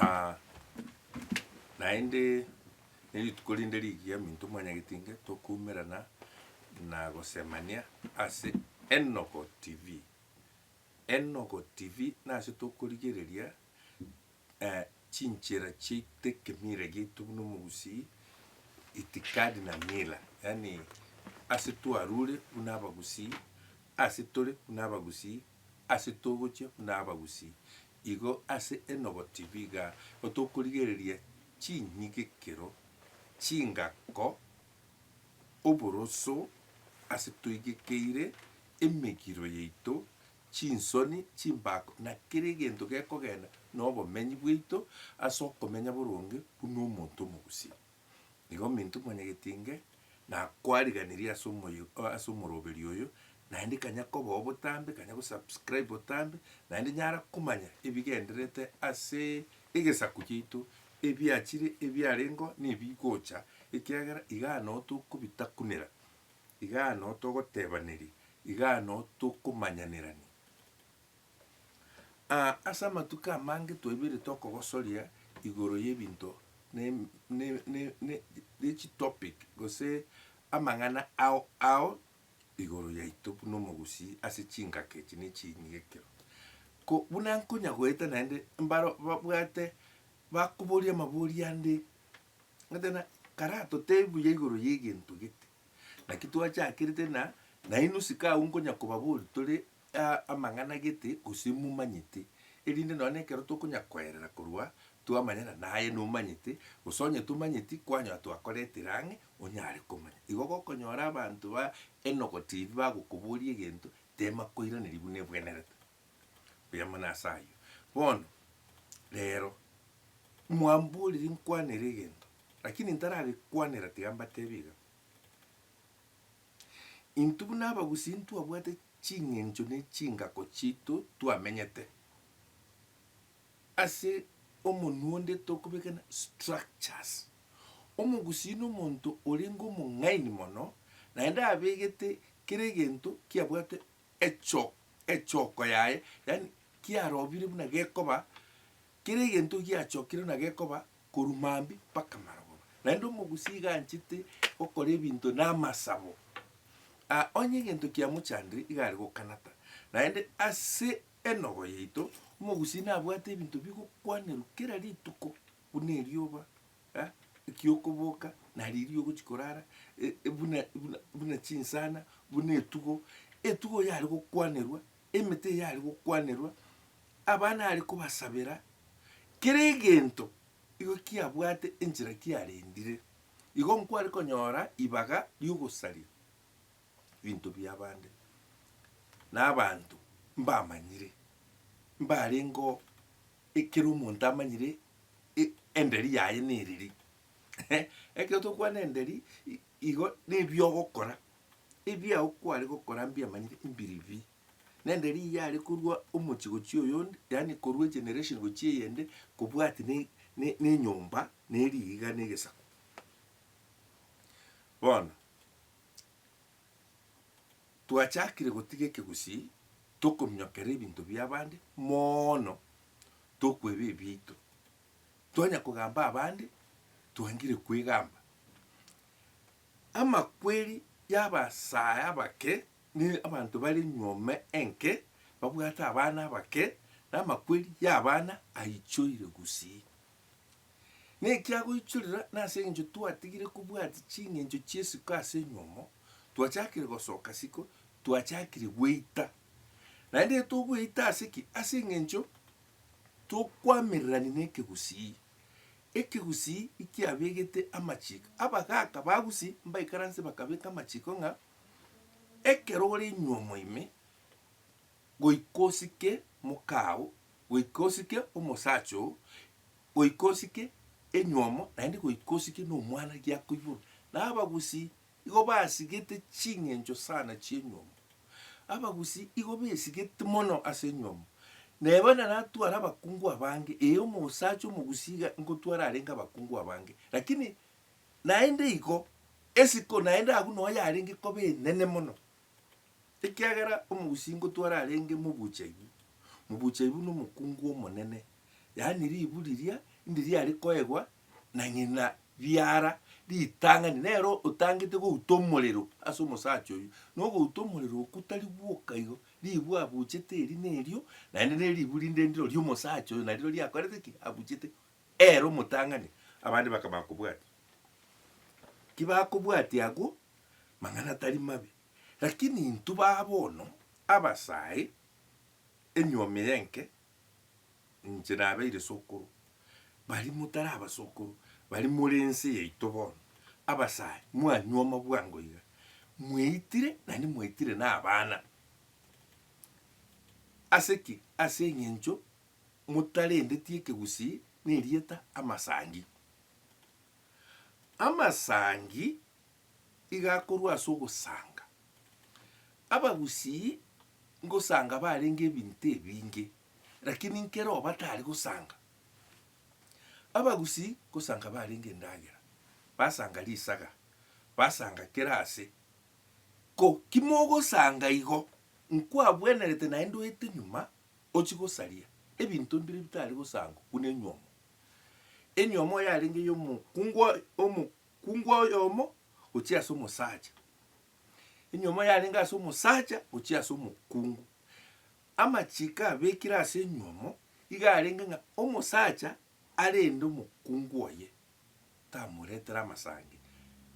Aa naende nerituko rinde rigiya minto mwanyagetinge tokoumerana na gosemania ase Enogo TV. Enogo TV nase tokorigereria chinchera chiaito ekemira giaito buna omogusii itikadi na mila yaani ase twarure buna abagusii ase tore buna abagusii ase togochia buna abagusii Igo ase enoboti biga tokorigereria chinyigekero chingako oboroso ase toigekeire emegiro yaito, chinsoni, chimbako, na kera egento gekogenda nobomenyi bwaito ase okomenya boronge buna omonto omogusia. Nigo ominto mwanyagetinge na kwariganirie ase omoyo ase omoroberi oyo naende kanya kobao botambe kanya go subscribe botambe naende nyara komanya ebigendererete ase egesaku giaito ebiachire ebiarengo na ebigocha ekiagera igaa noo tokobitakunera igaa noo togotebaneria igaa noo tokomanyanerania. Aa, ase amatuko amange twaiberete okogosoria igoro y'ebinto ne, ne, ne, ne, ne chitopic gose amang'ana ao ao igoro yaito buna omogusii ase chingaki echi ne chinyia ekero. Ko buna nkonya goeta naende mbaro babwate bakoboria amabori ande, omanyete buna kare atotebi buya igoro y'egento gete, naki twachakerete na nainwe sikagu nkonya kobabori tore amang'ana gete gose momanyete, erinde nonya nekero tokonya koerera korwa twamanyana naye nomanyete, gose onye tomanyeti kwanyora twakoretire ang'e onyare komanya. Igo gokonyora abanto ba enogo TV bagokoboria egento tema koiraneria buna ebwenerete. Buya mono ase ayio. Bono rero mwamboriri nkwanere egento lakini ntaragekwanera tiga mbatebie iga. Intwe buna abagusii ntwabwate ching'encho ne chingako chiaito twamenyete ase omonwa onde tokobekana structures. Omogusii nomonto orenge omong'aini mono naende abegete kera egento kiabwate echo echoko yaye yaani kiarobire buna gekoba Kera egento giachokire na gekoba korwa mambia mpaka marogoba. Naende omogusii iga anchete gokora ebinto na amasabo. Aa, onye egento kiamochandire iga are gokanata. Naende ase enogo yaito, omogusii nabwate ebinto bigokwanerwa kera rituko, buna erioba, eh, ekiokoboka, na riria ogochia korara, e, e, buna, buna, buna chinsana, buna etugo. Etugo eyare gokwanerwa, emete eyare gokwanerwa, Abana are kobasabera, kera egento igo kiabwate enchera kiarendire. Igo nkware konyora ibaga ri'ogosaria ebinto bi'abande na abanto mbamanyire, mbarengeo ekero omonto amanyire enderi yaye neriri. Ekero tokwana enderi igo nebiogokora, ebiago kware gokora mbiamanyire mbiri bii. Nende riiya are korwa omochie gochia oyonde, yaani korwa egeneration gochia eyende, kobwati ne, ne, nenyomba, na eriiga, na egesaku. Bono, twachakire gotiga ekegusii, tokominyokera ebinto bia abande moono, tokweba ebiito. Twanya kogamba abande, twangire kwegamba. Amakweri y'abasae abake. Ne abanto bare nyuome enke babwate abana abake, na amakweri y'abana aichoire gusii. Ne ekiagoichorera, na ase engencho twatigire kobwati chingencho chi'esiko ase enyuomo, twachakire gosoka siko, twachakire gweita. Naende togweita ase ki? Ase engencho tokwamererani n'ekegusii. Ekegusii ekiabegete amachiko, abagaaka ba gusii mbaikaranse bakabeka amachiko ng'a. Ekero ore nywomo ime, goika osike moka oo, goika osike omosacha oo, goika osike enywomo, naende goika osike na omwana giako igoro. Na abagusii igo basigete ching'encho sana chi'enywomo, abagusii igo besigeti mono ase enywomo. Na eba naratware abakungu abange, ee omosacha omogusii iga ngotware arenge abakungu abange, lakini Naende igo, esiko naende agwo noyo yarenge koba enene mono, ekiagera omogusii ngotwa orarenge mobuchaibu, mobuchaibu na omokungu omonene, yaani ribu riria inde riare koegwa na ng'ina riara ritang'ani, nere otangete gouta omorero ase omosacha oyio, na ogouta omorero okwo tari gwoka igo, ribu abuchete eri na erio, naende neribu rinde ndiro ri'omosacha oyo nariro riakorete ki? Abuchete. Ere omotang'ani, abande bakamanya kobwatia. Tibakobwatia agwo mang'ana tari mabe, lakini intwe ba bono abasae, enyuomi y'enke, inche nabeire sokoro, baria motari abasokoro, baria more ense yaito bono, abasae, mwanyuoma bwango iga, mwaitire naende mwaitire nabana. Ase ki? Ase eng'encho motarendeti ekegusii nerieta amasangi. Amasangi iga akorwa ase ogosanga. Abagusii ngosanga barenge ebinto ebinge lakini nkero batari gosanga. Abagusii ngosanga barenge endagera, basanga risaga, basanga kera ase. Ko kimogosanga igo, nkwabwenerete naende oete nyuma Ochie gosaria ebinto mbire bitari gosankwa buna enywomo. Enywomo yarenge ey'omokungu omokungu oyomo gochia ase omosacha, enywomo yarenge ase omosacha gochia ase omokungu. Amachiko abekire ase enywomo iga arenge ng'a omosacha arende omokungu oye tamoretere amasangi,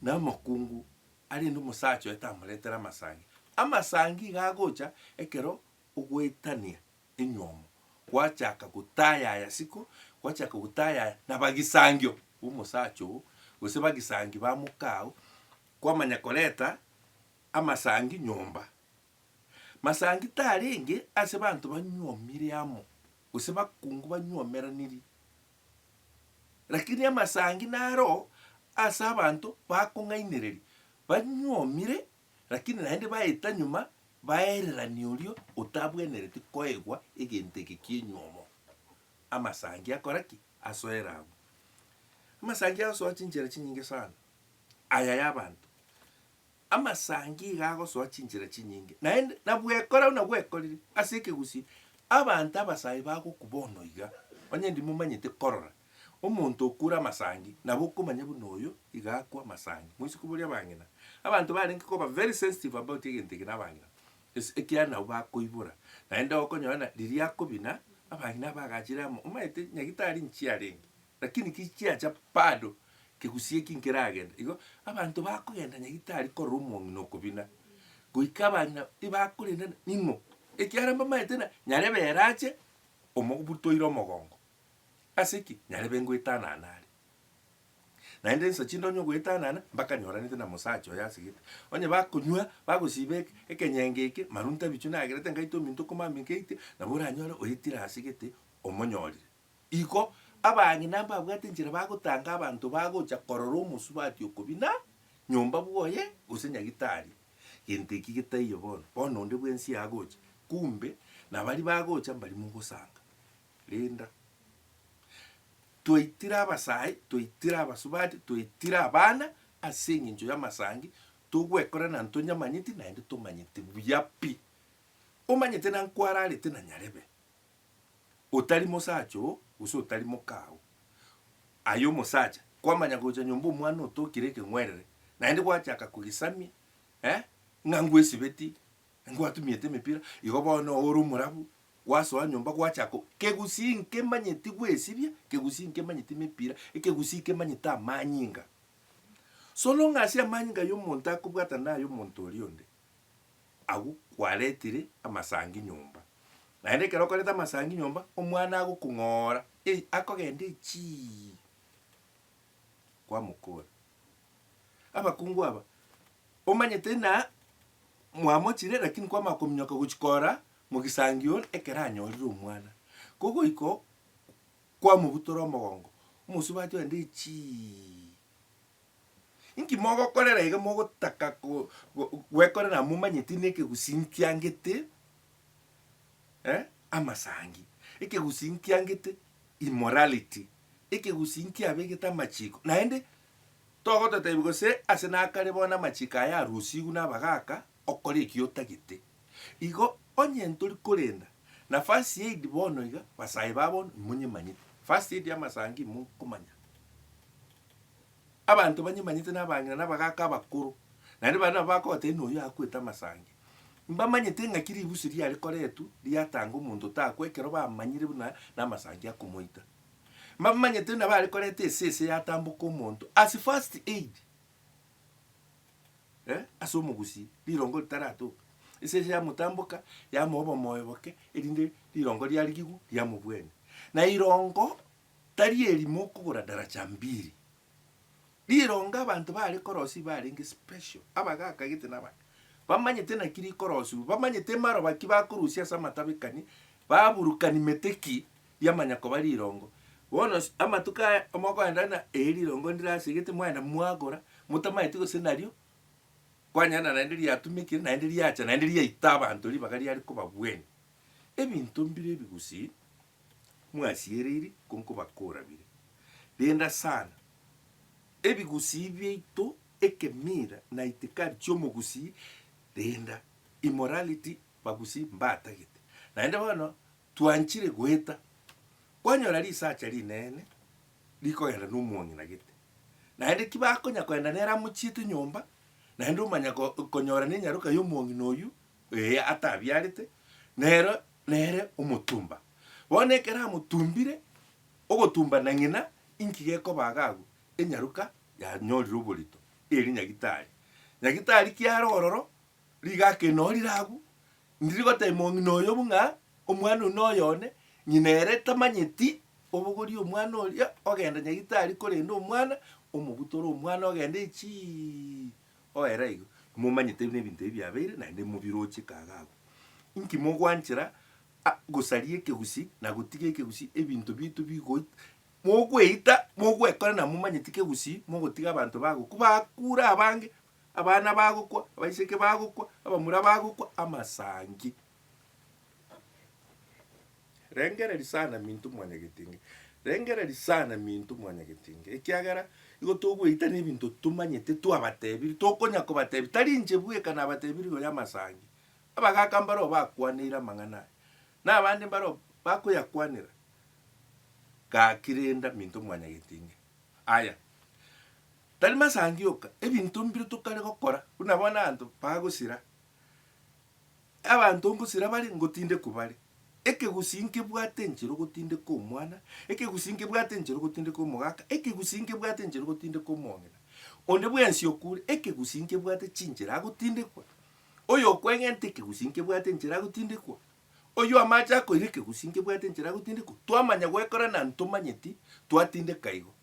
na omokungu arende omosacha oye tamoretere amasangi. Amasangi iga agocha ekero ogoetania enyomo, gwachaka gotayaya siko, gwachaka gotayaya na bagisangio b'omosacha oo, gose bagisangi ba mokao, kwamanya koreta amasangi nyomba. Masangi tarenge ase banto banyuomire amo, gose bakungu banyuomeranirie, lakini amasangi naro ase abanto bakong'ainereria, banyuomire Lakini naende baeta nyuma baererania oria otabwenereti koegwa egento eke ki'enyuomo. Amasangi akora ki? Asoera abwo. Amasangi agosoa chinchera chinyinge sana. Aya y'abanto. Amasangi iga agosoa chinchera chinyinge. Naende nabwekora buna bwekorire ase ekegusii, abanto abasae bagoku bono iga, onye ndimomanyete korora, Omonto okure amasangi nabo okomanya buna oyo iga akwa amasangi. Moise koboria abang'ina. Abanto barenge koba very sensitive about egento eke nabang'ina ase ekiagera nabo bakoibora. Naende okonyora ng'a riria akobina abang'ina aba agachire amo omanyete nyagitari inchi arenge lakini ki chiacha bado kegusii eki nkeragenda igo abanto bakogenda nyagitari korora omong'ina okobina goika abang'ina ibakorendana ning'o ekiagera mbamaete ng'a nyarebe ere ache omobutoire omogongo Ase ki? Nyarebe ngoetanana are. Naende insa chindonye ogoetanana, mpaka nyoranete na mosacha oyo asegete. Onye bakonywa, bagosiba eke, ekenyenge eke, marunta ebichwa nagerete ngaite ominto komama ekeite, nabo oranyore oetire asegete omonyorire. Igo abang'ina mbabwate enchera bagotanga abanto bagocha korora omosubati okobina nyomba bwoye gose nyagitari. Gento eki getaiyo bono. Bono onde bwensi agocha, kumbe nabaria bagocha mbari mogosanga. Rinda. Twaitire abasae, twaitire abasubati, twaitire abana ase engencho y'amasangi, togwekora na ntonyamanyeti naende tomanyeti buya pi. Omanyete na nkwararete na nyarebe, otari mosacha oo gose otari moka oo. Aye omosacha, kwamanya gocha nyomba omwana otokire ekeng'werere, naende gwachaka kogesamia eh, ng'a ngwesibeti Ngwatumiete emepira, igo bono ore omorabu, gwasoa nyomba gwachaka o, kegusii nkemanye tigwesibia, kegusii nkemanye timepira, ekegusii kemanyete amanyinga. So long as amanyinga y'omonto akobwatana naya omonto oria onde, agwo kwaretire amasangi nyomba. Naende ekero okoreta amasangi nyomba, omwana agokong'ora, ei akogenda echii, kwamokora. Abakungu aba. Omanyete ng'a mwamochire, lakini kwamanya kominyoka gochia kora mogisangio ekero anyorire omwana, ko goika kwamobutora omogongo, omosubati oye ndiri chii. Inki mogokorera iga mogotaka gwekorera momanyeti buna ekegusii nkiangete amasangi, ekegusii nkiangete immorality, ekegusii nkiabegete amachiko, naende. Togotataibi gose ase nakare bono amachiko aya arusigwe nabagaaka, okore ekio otagete. Igo onye ntori korenda na first aid bono iga, basae ba bono imonyemanyete. First aid y'amasangi imokomanya. Abanto banyemanyete nabang'ina nabagaaka abakoro, naende baria nabo bakogotebia ng'a oyio akwete amasangi. Mbamanyete ng'aki ribusi riarekoretwe riatanga omonto otakwa ekero bamanyire buna namasangi akomoita. mbamanyete nabare koreta esese yatamboka omonto ase first aid eh, ase omogusi rirongo ritaratoka, esese yamotamboka yamoa obomoyo boke erinde rirongo riria rigigwe riamobuania. Na rirongo tari erimo okogora daraja mbiri, rirongo abanto bare korosia barenge special, abagaka gete na abana, bamanyete naki rikorosiwa, bamanyete maroba ki bakorusia ase amatabekani, baburukani mete ki, yamanya koba rirongo. Bono amatuko aya mogoenda ng'a eri rirongo ndire ase egete mwaenda mwagora, motamaeti gose nario kwanyana na naende riatumekire naende riacha naende riaita abanto ribaga riare kobabwene. Ebinto mbire ebi gusii mwasiereiri ko nkobakora bire. Renda sana, ebigusii biaito, ekemira na itikari chiomogusii renda, immorality, bagusii mbatagete. Naende bono Twanchire goeta, kwanyora risacha rinene rikogenda nomong'ina gete, naende tibakonya kogenda nere amo chiete nyomba, naende omanya ko konyora nenyaroka y'omong'ina oyio, ee, atabiarete, nero nere omotumba. Bono ekero amotumbire, ogotumba na ng'ina, inki gekoba iga agwo? Enyaroka yanyorire oborito, eeri nyagitari. Nyagitari kiare ororo, Rigaka enorire agwo, ndiri gotebia mong'ina oyo bung'a omwana oyio noyo one, ng'ina ere tamanyeti, obogorie omwana oria ogenda nyagitari korende omwana omobutore omwana ogende echii oere igo. Momanyete buna ebinto ebi biabeire naende mobiroche kaga agwo. Inki mogwanchera a gosaria ekegusi na gotiga ekegusi ebinto biaito bigo mogweita mogwekora na momanyeti kegusi mogotiga abanto bagokwa bakure abange Abana bagokwa, abaiseke bagokwa, abamura bagokwa, amasangi. Rengereria sana minto mwanyagetinge, rengereria sana minto mwanyagetinge, ekiagera igo togoita nebinto tomanyete twabatebirie, tokonya kobatebia, tari inche bweka nabatebirie igo y'amasangi. Abagaka mbareo bakwaneire amang'ana aya, na abande mbareo bakoyakwanera, gaki renda minto mwanyagetinge. Aya, Tari masangi oka, ebinto mbire tokare gokora, buna bono abanto bagosira. Abanto ngosira bare, ngotindekwa bare. Ekegusii nkebwate enchera ogotindeka omwana, ekegusii nkebwate enchera ogotindeka omogaka, ekegusii nkebwate enchera ogotindeka omong'ina. Onde bwensi okure, ekegusii nkebwate chinchera agotindekwa. Oyokwegenta ekegusii nkebwate enchera agotindekwa. Oyio amache akoira ekegusii nkebwate enchera agotindekwa. Twamanya goekora na ntomanyeti, twatindeka igo.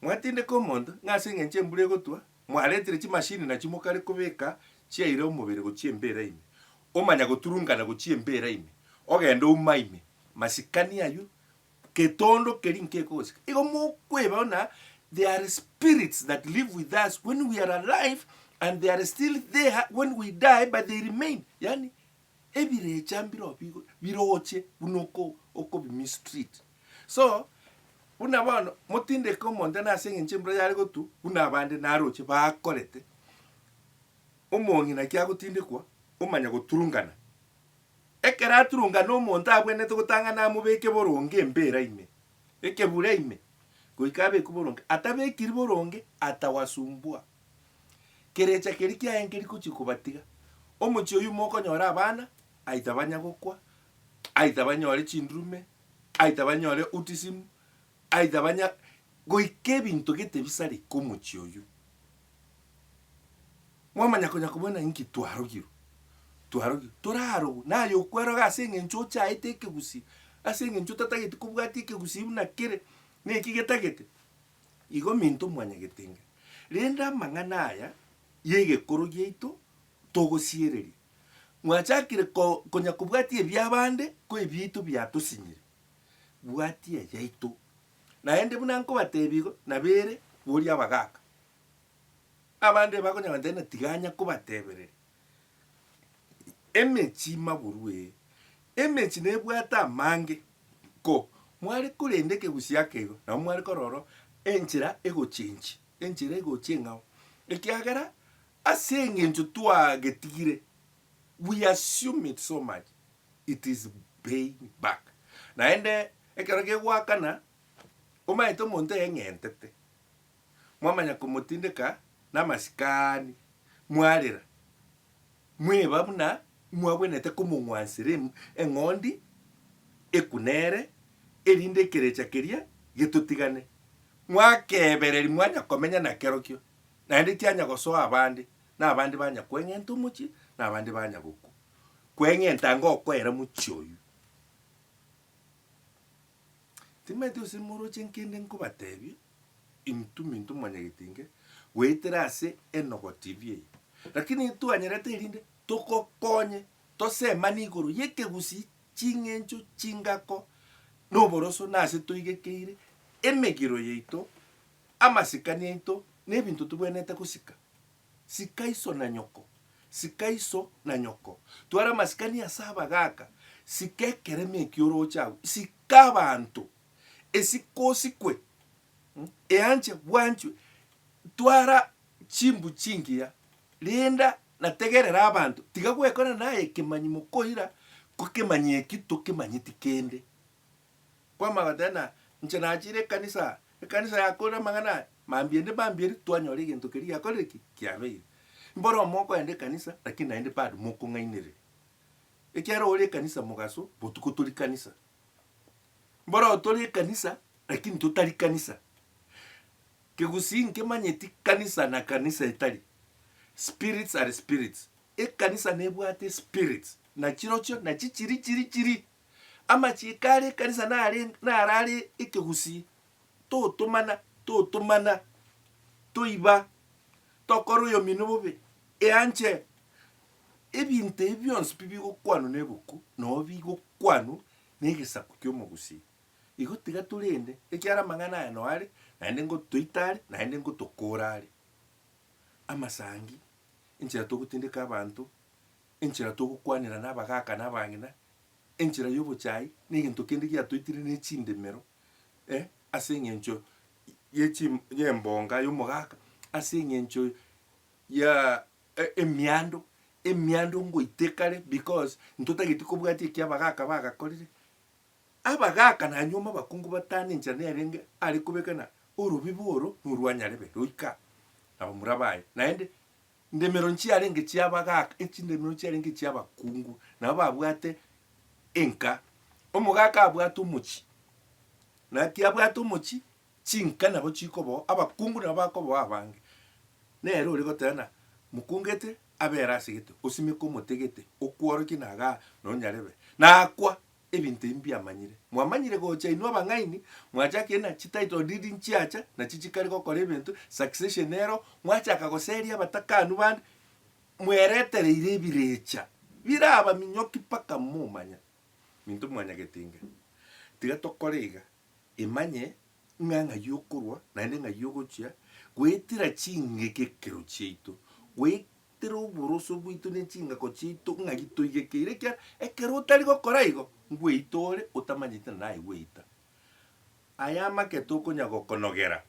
Mwatindeka omonto, ng'a ase engencho embura egotwa, mwaretire chimashini na chimokare kobeka chiaira omobere gochia embeera ime, omanya goturungana gochia embeera ime, ogenda ouma ime, masikani aywo, getondo keria nkekogosika. Igo mokwebao na there are spirits that live with us when we are alive and they are still there when we die but they remain, yaani Ebirecha mbirobio bigo biroche buna oko okobimistreat. So, buna bono motindeke omonto na ase eng'encho embura yare gotu buna abande naroche bakorete, omong'ina naki agotindekwa omanya goturungana. Ekero aturungana omonto abwenerete gotang'ana amobeke boronge embera ime, ekebura ime, goika abekwe boronge. Atabekiri boronge atawasumbua. Kerecha keria kiaye nkeri gochia kobatiga. Omochie oyio mokonyora abana aita banya gokwa, aita banyore chindurume, aita banyore autism, aita banya goika ebinto gete bisareke omochie oyio. Mwamanya konya kobua ng'a inki twarogirwe, twarogirwe, torarogwe naye okweroga ase eng'encho ochaete ekegusii, ase eng'encho otatageti kobwatia ekegusii buna kere, naki getagete. Igo minto mwanyagetenge, rende amang'ana aya y'egekoro giaito togosiereria. Mwachakire konya kobwatia ebi'abande, ko ebiaito biatosinyire. Bwatia eyaito. Naende buna nkobateebia igo, nabo ere, boria abagaaka. Abande bakonyagora ntaina tiga anya kobateebereri. Emechi maguru ee, emechi nebwate amange, ko mware korenda ekegusii akeigo, nabo mware kororo enchera egochia enchi, enchera egochia eng'ao, ekiagera ase eng'encho twagetigire, we assume it so much, it is paying back. Naende ekero kegoakana, omanyete omonto eyeng'entete. mwamanya komotindeka namasikani, mwarera, mweba buna mwagwenerete komong'wansera eng'ondi eku nere, erinde ekerecha keria getotigane. Mwakebereri mwanya komenya nakerokio, naende tianya gosoa abande, nabande banya kweng'enta omochie, nabande banya gokwa. Kweng'enta ngokoera mochie oyio. Timanyeti gose moroche nkende nkobatebia, intwe minto mwanyagetinge goetera ase enogo TV eye, lakini intwanyarete erinde togokonye tosemane igoro y'ekegusii, ching'encho, chingako, na oboroso, na ase toigekeire emegiro yaito, amasikani aito, na ebinto togwenerete gosika. Sika iso na nyoko. Sika iso na nyoko. Twara amasikani ase abagaaka. Sika ekeremi ekio orooche agwo. Sika abanto. Esike osikwe. Eanche bwanchwe. Twara chimbu chingiya. Rinda na tegerera abanto. Tiga gwekorera naye ekemanyi mokoira, ko ekemanyi eki tokemanyeti kende. Kwama agateba ng'a inche nachire ekanisa, ekanisa yakorire amang'ana aya, mambia ende mambia eria, twanyora egento keria giakorire ki? Kiabeire. Mboro mokoenda ekanisa lakini naende bado mokong'ainereria. Ekiagera ore ekanisa mogaso, botuko tori kanisa. Mboro tore ekanisa lakini totari kanisa. Kegusii nkemanyeti kanisa na kanisa etari. Spirits are spirits. Ekanisa nebwate espirits, nachirochio nachi chiri chiri chiri Amachiiko are ekanisa nare narare ekegusii, totomana, totomana, toiba, tokora oyomino bobe, eanche. Ebinto ebi bionsi pi bigokwanwa neboku nabo bigokwanwa negesaku kiomogusii. Igo tiga torende ekiara amang'ana aya no are naende ngotoita are naende ngotokora are. Amasangi, enchera togotindeka abanto. Enchera togokwanera nabagaaka na abang'ina, enchera y'obochai, negento kende giatoitire ne chindemero, e, ase eng'encho ye chi y'embonga y'omogaaka, ase eng'encho ya emiando, emiando ngoite kare because ntotageti kobwatia ekio abagaaka bagakorire. Abagaaka na anyuoma abakungu batane enchera nerenge are kobeka na orobibu oro norwa nyarebe roika nabo murabaye naende. Ndemero nchiarenge chi'abagaaka, echindemero chiarenge chi'abakungu, nabo babwate enka. Omogaaka abwate omochie, na kiabwate omochie, chinka nabo chikoboa, abakungu nabo bakoboa abange. Nere ore goteana, Mokungete, abera asegete, osimeke omotegete, okworokie nagaa, nonyarebe. Nakwa, Ebinto ebi mbiamanyire, mwamanyire gocha inwe abang'aini, mwachaka ena chititle deed nchiacha, na chichikari gokora ebinto, succession nero, mwachaka goseria abatakanu bande, mweretereire ebirecha biraba minyoki mpaka momanya minto mwanyagete inga. Tiga tokore iga, imanye ng'a ng'ai okorwa naende ng'ai ogochia, goetira ching'eki ekero chiaito, goe Tera oboroso bwaito ne chingako chiaito ng'a gitoigekeire, ekiagera ekero otari gokora igo, ngweita ore otamanyeti na naye gweita. Aya amake tokonya gokonogera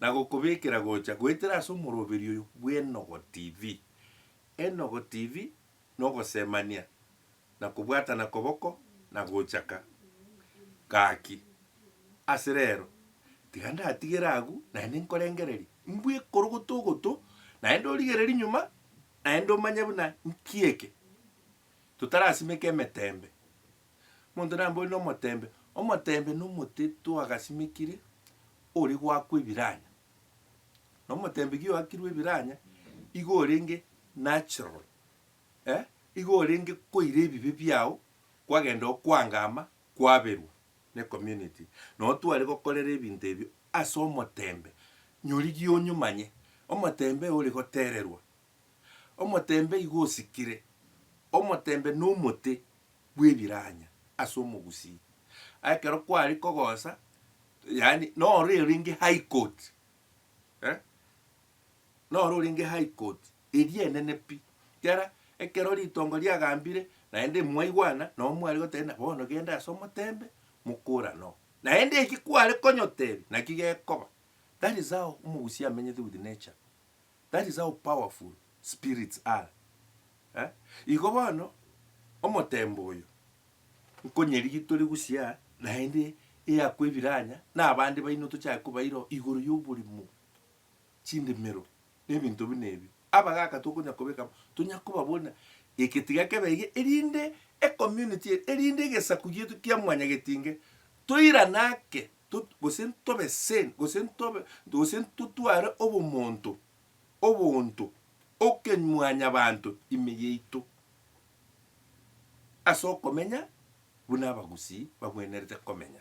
na gokobekera gocha goetera ase omoroberi oyo bw'Enogo TV. Enogo TV, nogosemania. na kobwatana koboko na gochaka. Gaki, ase rero, tiga ndatigere agwo, naende nkorengererie, mbwekorogote ogotwo, naende origererie nyuma, naende omanye buna nki eke totarasimeka emetembe. Omonto nambori nomotembe, omotembe nomote twagasimekire ore goakwa ebiranya. Nomotembe gioakirwe ebiranya, igo orenge natural. Eh, igo orenge koira ebibe biao kwagenda okwangama kwaberwa ne community nao tware gokorera ebinto ebio ase omotembe nyorigie onyomanye omotembe ore gotererwa omotembe igo osikire omotembe nomote bwebiranya ase omogusii ekero kware kogosa yaani noro orenge high court eh noro orenge high court. Eria enene pi. Ekiagera ekero ritongo riagambire, naende imwaigwana, nabo mware goteebia, Bono genda ase omoteembe, mokora noo. Naende eki kware konyoteebia, nakio gekoba. That is how omogusia amenyete with nature. That is how powerful spirits are. Eh? Igo bono, omoteembe oyo, nkonyerigi tore gusia, naende eakwa ebiranya, na abande baino tochake kobairoo igoro yoborimo. chindimero, na ebinto buna ebi, abagaka tokonya kobeka amo, tonya koba buna egetiga kebe iga, erinde ecommunity eye, erinde egesaku gieto kia mwanyagetinge toirane ake, tot gose ntobe sane, gose ntobe gose ntotware obomonto, obonto, okemwanyabanto ime yaito, ase okomenya buna abagusii bagwenerete komenya.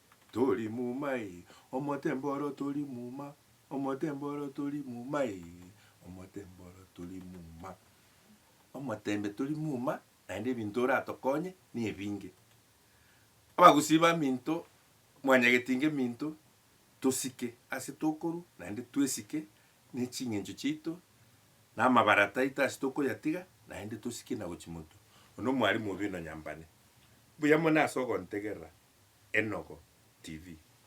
Tori muma ee, omotemba oro tori muma, omotemba oro tori muma ee, omotemba oro tori muma. Omotembe tori muma, naende ebinto oratokonye nebinge. Abagusii baminto, mwanyageti ngeminto, tosike ase tokorwa, naende twesike ne ching'encho chiaito, na amabarata aito ase tokoyatiga, naende tosike na gochia motwe. Oyio nomwarimu obe nonyambane. Mbuya mono ase ogontegerera Enogo TV.